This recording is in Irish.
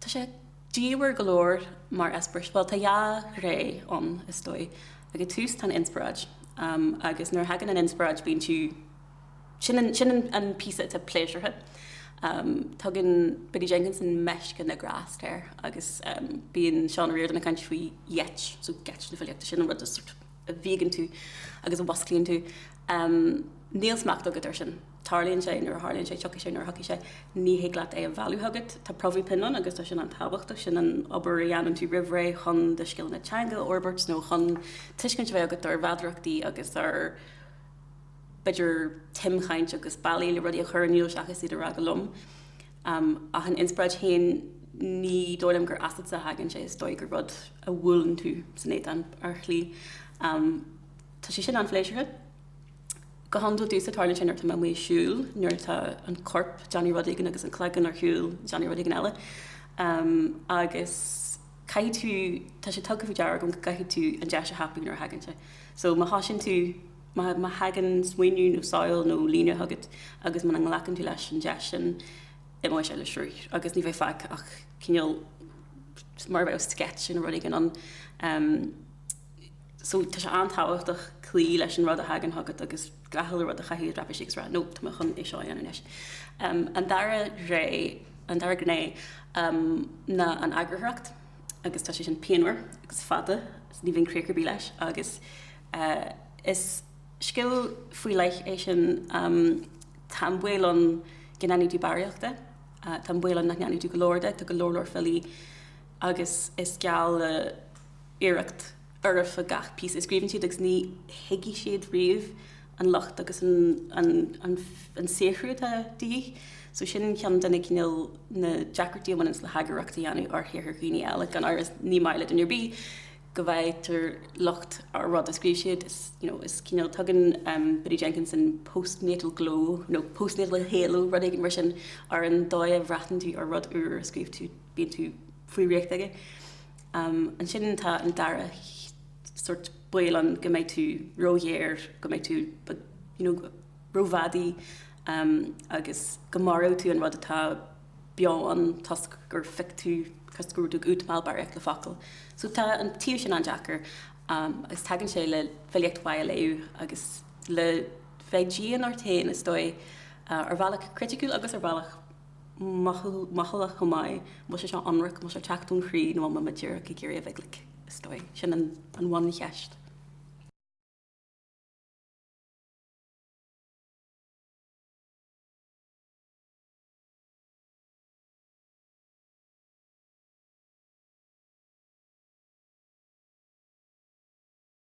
Tá sé diamhair go leor mar eispéiris, bhuel tá dhá ré ann is dóigh. Ag an tús tá an inspioráid agus nuair a thagann an inspioráid bíonn tú, sin an píosa atá pléisiúrtha. Tugann Biddy Jenkinson meisce na ngrást air agus bíonn Seán Ó Ríordáin ag caint faoi gheit, so geit na filíochta, sin an rud sort a bhíogann tú agus a mhúsclaíonn tú. Níl smacht agat air sin. tarlaíonn sé, nuair a tharlaíonn sé, tiocfaidh sé, nuair a thiocfaidh sé, ní thig leat é a mhealladh chugat. Tá promhaidh pinn ann agus tá sin an-tábhachtach, sin an obair a dhéanann tú roimh ré chun do scileanna teanga a fhorbairt nó chun tuiscint a bheith agat ar mheadarachtaí agus ar b'fhéidir timchaint agus bealaí le rudaí a chur in iúl seachas iad a rá go lom. Ach an inspioráid féin, ní dóigh liom gur asatsa a thagann sé, is dóigh gur rud a bhuaileann tú san éadan ar shlí. Tá sé sin an-phléisiúrtha. Go hiondúil domhsa tarlaíonn sé nuair atá mé ag siúl nuair atá an corp ag déanamh rud éigin agus an cloigeann ar shiúl ag déanamh rud éigin eile agus caithfidh tú, tá sé tugtha faoi deara agam go gcaithfidh tú an deis a thapú nuair a thagann sé. So má thosaíonn tú, má thagann smaoineamh nó samhail nó líne chugat agus muna nglacann tú leis an deis sin imeoidh sé le sruth agus ní bheidh fágtha ach cineál mar a bheadh sketch de rud éigin ann. so tá sé an-tábhachtach cloí leis an rud a thagann chugat agus gach uile rud a chaitheamh i dtraipisí agus a rá no, tá mé chun é seo a dhéanamh anois. An dara ré, an dara gné, ná an eagarthóireacht agus tá sé sin pianmhar agus fada, ní bhíonn críoch ar bith leis agus is scil faoi leith é sin, tá an baol ann go ndéanfaidh tú barraíocht de, tá an baol ann nach ndéanfaidh tú go leor de, tá go leor leor filí, agus is geall le iarracht fhoirfe gach píosa a scríobhann siad agus ní thuigfidh siad riamh an locht agus an saothrú atá de dhíth. So sin ceann de na cineál na deacrachtaí a bhaineas le heagarthóireacht a dhéanamh ar shaothar dhaoine eile. Gan amhras ní maith le duine ar bith go bhfaightear locht ar rud a scríobh siad, is you know is cineál tugann um Biddy Jenkinson postnatal glow nó postnatal halo rud éigin mar sin ar an dóigh a bhreathnaíonn tú ar rud úr a scríobh tú. bíonn tú faoi dhraíocht aige. Ansin tá an dara sort baol ann go mbeidh tú róghéar, go mbeidh tú you know rófhadaí agus go maróidh tú an rud atá beo ann toisc gur phioc tú, toisc go raibh tú ag útamáil barraíocht le focail. So tá an taobh sin an-deacair agus tagann sé le filíocht mhaith a léamh agus le bheith dian ort féin is dóigh ar bhealach criticiúil agus ar bhealach Mo chuala chomh maith, an bhfuil sé seo ionraic, an bhfuil sé ag teacht ón chroí nó an bhfuil muid díreach ag iarraidh a bheith glic? Is dóigh, sin an bhuncheist.